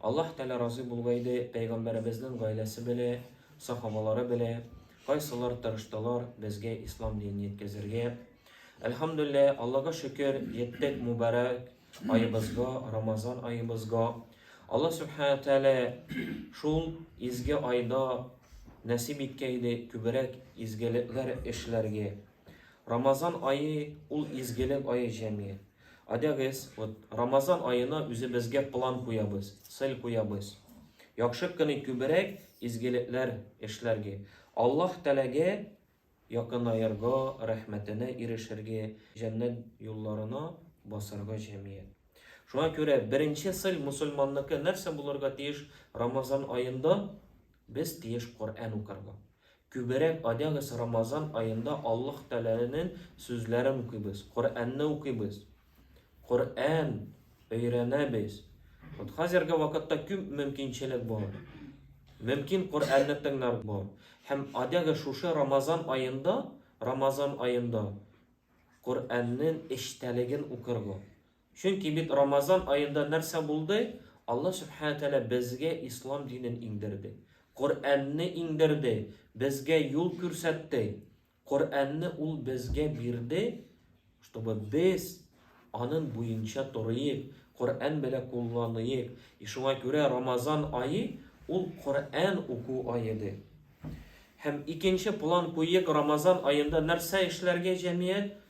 Аллаһ Тәгалә разый булуга иде, Пәйгамбәребезнең гаиләсе белә, сахабалары белә, кайсылар тырыштылар безгә ислам динен җиткезергә. Әлхәмдүлилләһ, Аллага шөкер, җиттек мубарәк аебызга, Рамазан аебызга. Аллаһ Субхана Тәгалә шул изге айда нәсип иткән иде күбрәк изгелекләр эшләргә. Рамазан ае ул изгелек ае җәмигать. Адягез, вот Рамазан аена үзебезгә план куябыз, цель куябыз. Яхшы кыны күберәк изгелекләр эшләргә. Аллаһ Тәләгә якынаерга, рәхмәтенә ирешергә, җәннәт юлларына басарга җәмият. Шуңа күрә беренче цель мусульманныкы нәрсә булырга тиеш? Рамазан аенда без тиеш Коръән укырга. Күберәк адягыз Рамазан аенда Аллаһ Тәгаләнең сүзләрен укыйбыз, Коръәнне укыйбыз, Коръән өйрәнәбез. Вот хәзерге вакытта күп мөмкинчелек бар. Мөмкин Коръәнне тыңлар бар. Һәм адягы шушы Рамазан аенда, Рамазан аенда Коръәннең эчтәлеген укырга. Чөнки бит Рамазан аенда нәрсә булды? Алла Сүбхәнә Тәгалә безгә Ислам динен иңдерде. Коръәнне иңдерде, безгә юл күрсәтте. Коръәнне Ул безгә бирде, чтобы без анын буенча торыйк, Коръән белә кулланыйк. И шуңа күрә Рамазан ае ул Коръән уку аеды. Һәм икенче план куйыйк, Рамазан аенда нәрсә эшләргә җәмият?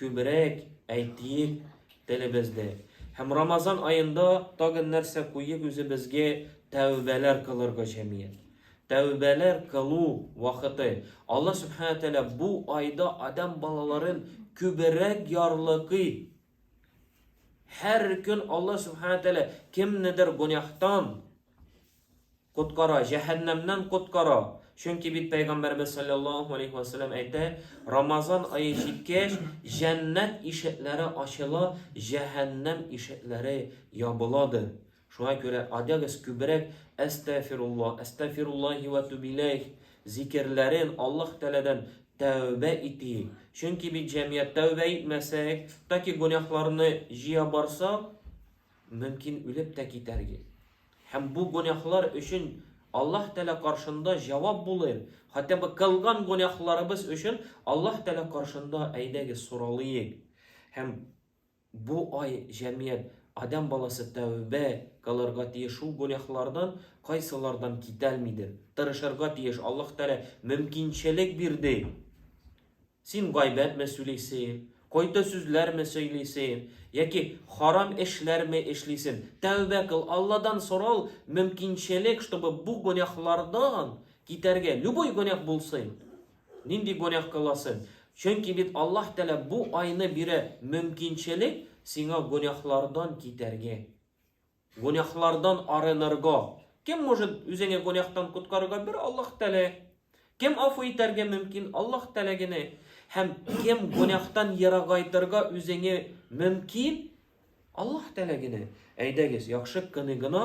Күбрәк әйтик телебезне. Һәм Рамазан аенда тагын нәрсә куеп үзебезгә тәүбәләр кылырга җәмият. Тәүбәләр кылу вакыты. Алла Субхана Тәала бу айда адәм балаларын күбрәк ярлыкый. Һәр көн Алла Субхана Тәала кемнедер гонәхтан Коткара, җәһәннәмнән коткара. Чөнки бит Пәйгамбәребез салләллаһу алейһи вә сәлләм әйтә, Рамазан ае җиткәч, җәннәт ишекләре ачыла, җәһәннәм ишекләре ябыладыр. Шуңа күрә адәгез күбрәк Әстәгъфируллаһ, Әстәгъфируллаһи вә туб иләйһ зикерләрен, Аллаһ Тәгаләдән тәүбә итик. Чөнки бит җәмгыять тәүбә итмәсәк, таки гөнаһларны җыя барсак, мөмкин үлеп тә китәрге һәм бу гөнаһлар өчен Аллаһ Тәгалә каршында җавап булыйм, хәтта бы кылган гөнаһларыбыз өчен Аллаһ Тәгалә каршында әйдәгез соралыйк һәм бу ай җәмият Адәм баласы тәүбә кылырга тиеш шул гөнаһлардан кайсылардан китәлмидер, тырышырга тиеш, Аллаһ Тәгалә мөмкинчелек бирде. Син гайбәтме сүлисең, кайта сүзләрме сөйлисең, яки харам эшләрме эшлисең? Тәүбә кыл, Алладан сорау мөмкинчелек, чтобы бу гөнаһлардан китәргә, любой гөнаһ булсын. Нинди гөнаһ кыласың? Чөнки бит Аллаһ Тәгалә бу айны бирә мөмкинчелек сиңа гөнаһлардан китәргә. Гунәхлардан арынырга. Кем может үзеңе гунәхтан коткарырга? Бер Аллаһ Тәгалә. Кем афу итәргә мөмкин? Аллаһ Тәгалә генә. Һәм кем гунәхтан ерагайтырга үзеңе мөмкин? Аллаһ Тәгалә генә. Әйдәгез, яхшы кыны гына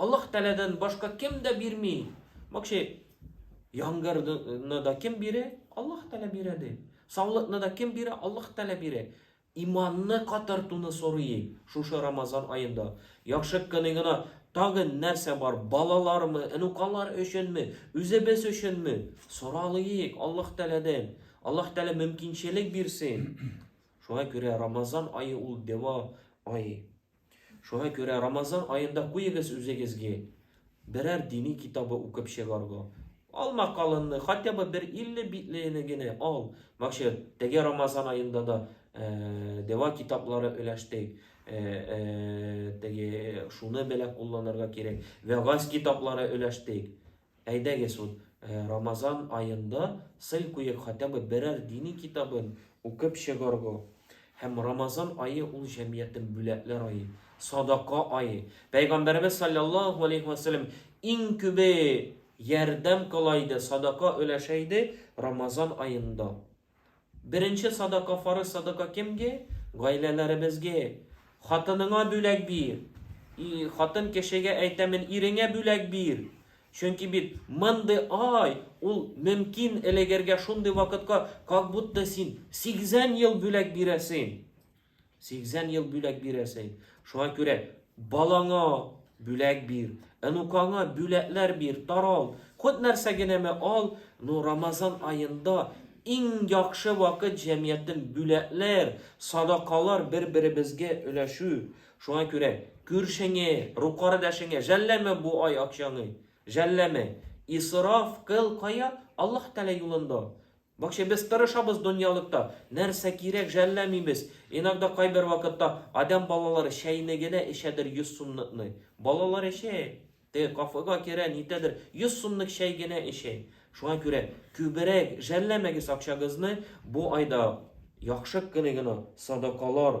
Аллаһ Тәләдән башка кем дә бирми. Мокши, яңгырны да кем бирә? Аллаһ Тәлә бирә ди. Саулыкны да кем бирә? Аллаһ Тәлә бирә. Иманны катартуны сорый шушы Рамазан аенда. Яхшы кыны гына тагы нәрсә бар? Балалармы, энукалар өченме, үзебез өченме? Соралыйк Аллаһ Тәләдән. Аллаһ Тәлә мөмкинчелек бирсен. Шуңа күрә Рамазан ае ул дәва ае. Шуңа күрә Рамазан аенда куегыз үзегезге берәр дини китабы укып чыгарга. Алма калынны, хотя бы бер 50 битлене генә ал. Максат, теге Рамазан аенда да э, дәва китаплары өләштек. Э, э, теге шуны беләк кулланырга кирәк. Вәгаз китаплары өләштек. Әйдәгез ул Рамазан аенда сел куеп хотя бы берәр дини китабын укып чыгарга. Һәм Рамазан ае ул җәмгыятьнең бүләкләр ае, садака ае. Пәйгамбәребез салләллаһу алейһи вә сәлләм иң күбе ярдәм кыла иде, садака өләшә иде Рамазан аенда. Беренче садака фарыз садака кемге? Гаиләләребезге. Хатыныңа бүләк бир. И, хатын кешегә әйтәмен, иреңә бүләк бир. Чөнки бит мондый ай, ул мөмкин элегергә шундый вакытка, как будто син 80 ел бүләк бирәсең. 80 ел бүләк бирәсең. Шуңа күрә балаңа бүләк бир, онукаңа бүләкләр бир, тарал. Хут нәрсә генәме ал, ну Рамазан аенда иң яхшы вакыт җәмгыятен бүләкләр, садакалар бер-беребезгә өләшү. Шуңа күрә күршеңе, рукардәшеңе жәлләмә бу ай акчаңы. Жәлләмә. Исраф кыл кая? Аллаһ Тәгалә юлында. Бакча без тырышабыз доньялыкта, нәрсә кирәк жәлләмимез, иногда кайбер вакытта адәм балалары чәйне генә эчәдер йөз сумныкны, балалар эчә, теге кафега керә, нитәдер, йөз сумнык чәй генә эчә, шуңа күрә күберәк жәлләмәгез акчагызны, бу айда яхшы кыны гына садакалар,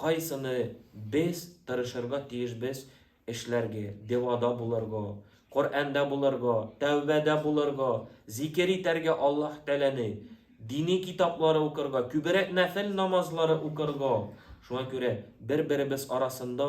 Кайсыны без тырышырга тиешбез эшләргә, дивада булырга, Коръәндә булырга, тәүбәдә булырга, зикер итәргә Аллаһ Тәгаләне, дини китаплары укырга, күбрәк нәфел намазлары укырга. Шуңа күрә бер-беребез арасында